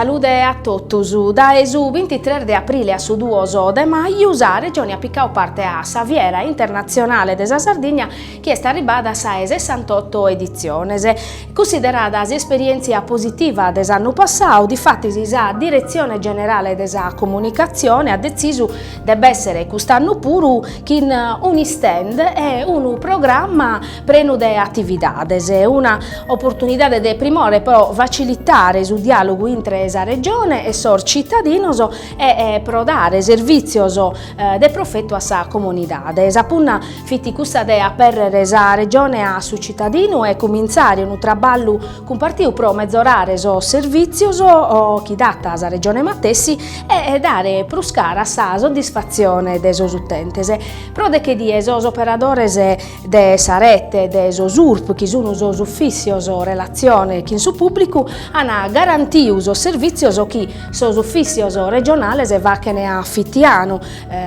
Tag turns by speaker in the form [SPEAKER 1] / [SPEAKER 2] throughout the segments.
[SPEAKER 1] Salude a totus. Dae su bintitres de aprile a su duos de maju sa Regioni at picau parte a sa Fiera internatzionale de sa Sardigna chi est arribada a sa 'e sessantotto editziones. Cunsiderada s'isperièntzia positiva de s'annu passau, difatis sa Diretzione Generale de sa Comunicatzione at detzisu de b'èssere cust'annu puru chin un'istand e unu programma prenu de atividades, una oportunidade de primore pro facilitare su diàlogu intre sa Regione e sos citadinos e pro dare servìtzios de profetu a sa comunidade. Sa punna fit cussa de apèrrere sa Regione a su citadinu e cumintzare unu traballu cumpartiu pro mezorare sos servìtzios chi dat sa Regione matessi e dare prus cara a sa soddisfatzione de sos utentes. Pro deche dies sos operadores de sa rete de sos Urp, chi sun sos Ufìssios Relatzione chin su Pùblicu, an garantiu sos servìtzios chi sos Ufìssios Regionales fachen a fitianu,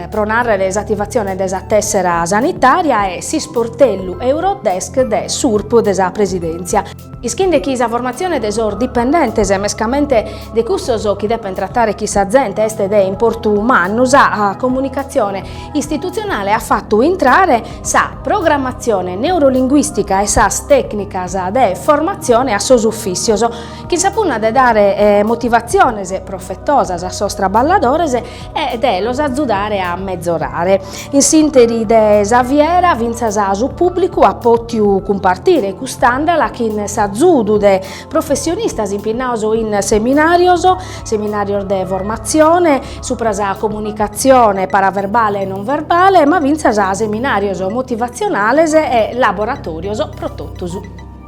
[SPEAKER 1] pro nàrrere s'ativatzione de sa tèssera sanitària e s'isportellu Eurodesk de s'Urp de sa Presidèntzia, ischende chi sa formatzione de sos dipendentes e mescamente de cussos chi depen tratare chin sa zente est de importu mannu, sa comunicatzione istitutzionale at fatu intrare sa programmatzione neurolinguìstica e sas tècnicas de formatzione a sos ufìssios, chin sa punna de dare motivatziones profetosas a sos traballadores e de los azudare a mezorare. In s'interi de sa fiera fintzas su pùblicu at pòtiu cumpartire cust'andala chin s'azudu de professionistas impinnaos in seminàrios, seminàrios de formatzione supra sa comunicatzione paraverbale e non verbale, ma fintzas seminàrios motivatzionales e laboratòrios pro totus.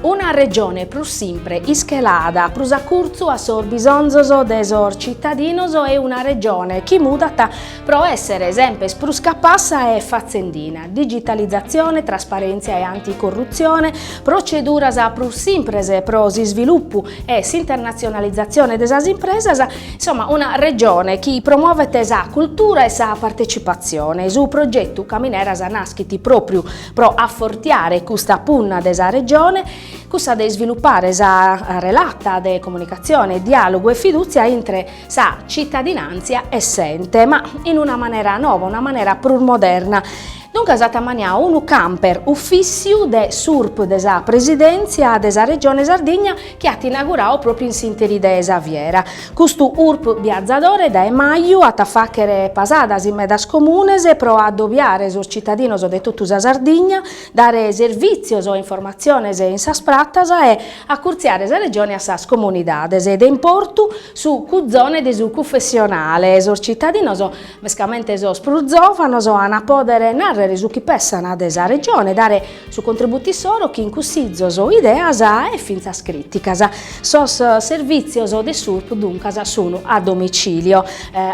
[SPEAKER 1] Una Regione prus simpre, ischelada prus a curtzu a sos bisonzos de sos citadinos e una Regione chi mudat pro essere semper prus capassa e fatzendina, digitalizatzione, trasparèntzia e anticorrutzione, proceduras prus simpres pro s'isvilupu e s'internatzionalizatzione de sas impresas, insomma una Regione chi promovet sa cultura e sa partecipatzione. Su progetu Camineras naschit pròpriu pro afortiare custa punna de sa Regione, cussa de isvilupare sa relata de comunicatzione, diàlogu e fidùtzia intre sa citadinàntzia e s'ente, ma in una manera nova, una manera prus moderna. Duncas at ammaniau unu camper ufìssiu de s'Urp de sa Presidèntzia de sa Regione Sardigna, chi at inauguradu pròpiu in s'interi de sa fiera, custu urp biazadore dae maju at a fàghere pasadas in medas comunes pro adobiare sos citadinos de totu sa Sardigna, dare servìtzios e informatziones in sas pratas e acurtziare sa regione a sas comunidades de importu, su cuzone de su cufessionale, sos citadinos Mescamente sos prus zòvanos an a pòdere nàrrere su chi pensant de sa Regione, dare su contributu issoro chin cussizos, ideas e fintzas crìticas. Sos servìtzios de s'Urp duncas sun a domicìlio,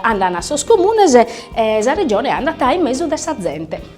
[SPEAKER 1] andan a sos comunes e sa Regione andat in mesu de sa zente.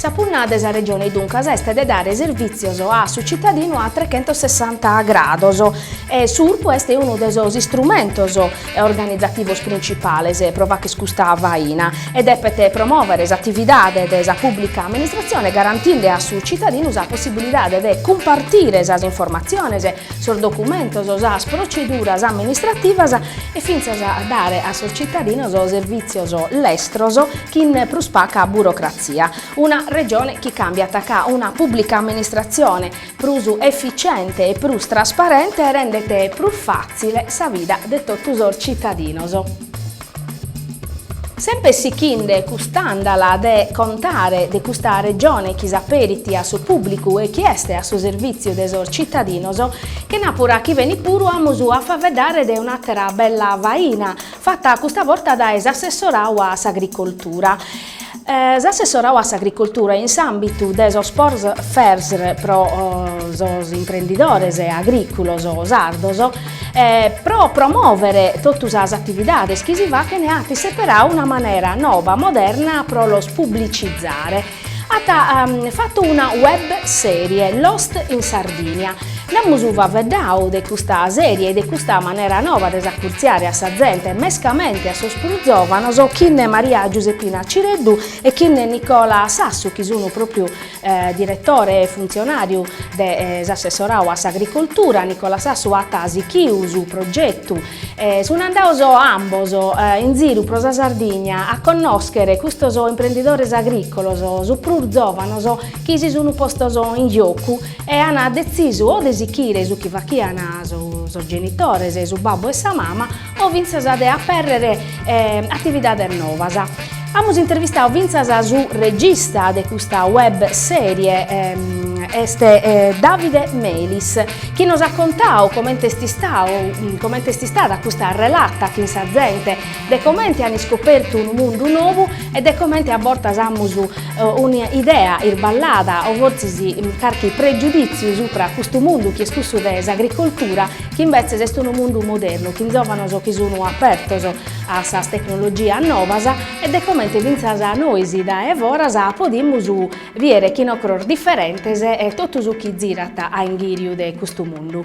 [SPEAKER 1] Sa punna de sa Regione duncas est de dare servìtzios a su citadinu a trechentossessanta grados e su Urp est unu de sos istrumentos organizativos principales pro fagher custa faina e depet promòvere s'atividade de sa pùblica amministratzione garantende a su citadinu sa possibilidade de cumpartire sas informatziones sos documentos, sas proceduras amministrativas e fintzas dare a sos cittadinos servìtzios lestros chin prus paca burocratzia. Una Regione chi càmbiat ca una pùblica amministratzione prus efitziente e prus trasparente rendet prus fàtzile sa vida de totu sos cittadinos. Semper sichinde cust'àndala de contare de custa Regione chi s'aperit a su pùblicu e chi est a su servìtziu de sos citadinos, chenàpura chi benit puru amus a faeddare de un'àtera bella faina fata custa borta dae s'assessoradu a s'Agricoltura. S'assessorau a s'Agricultura in s'àmbitu de sos Por Fesr pro sos imprendidores agrìculos sardos pro promòvere totu sas atividades chi si fachent at seperau una manera noba, moderna pro los publicizare. At fatu una web sèrie, Lost in Sardinia, Nd'amus faveddau de custa sèrie e de custa manera nova de s'acurtziare a sa zente, mescamente a sos prus zòvanos, chine Maria Giuseppina Cireddu e chine Nicola Sassu, chi sun pròpriu diretore e funtzionàriu de s'assessorau a s'agricoltura, Nicola Sassu at sichiu su progetu e sun andados ambos in ziru pro sa Sardigna a connòschere custos imprendidores agricolos, sos prus zòvanos, chi si sun postos in giocu e an detzisu o de sichire su chi fachian sos genitores, su babbu e sa mama, o fintzas de apèrrere atividades novas. Amus intervistadu fintzas su regista de custa web sèrie, est Davide Melis, chi nos at contadu comente est istadu, comente est istada custa relata chin sa zente, de comente an iscopertu unu mundu nou E de comente a bortas amus una idea isballada o fortzis carchi pregiudìtziu subra custu mundu chi est cussu de s'agricoltura, chi imbetzes est unu mundu modernu chin giòvanos chi sun apertos a sas tecnologias novas e de comente fintzas nois dae foras podimus bider chin ocros diferentes e totu su chi zirat a inghìriu de custu mundu.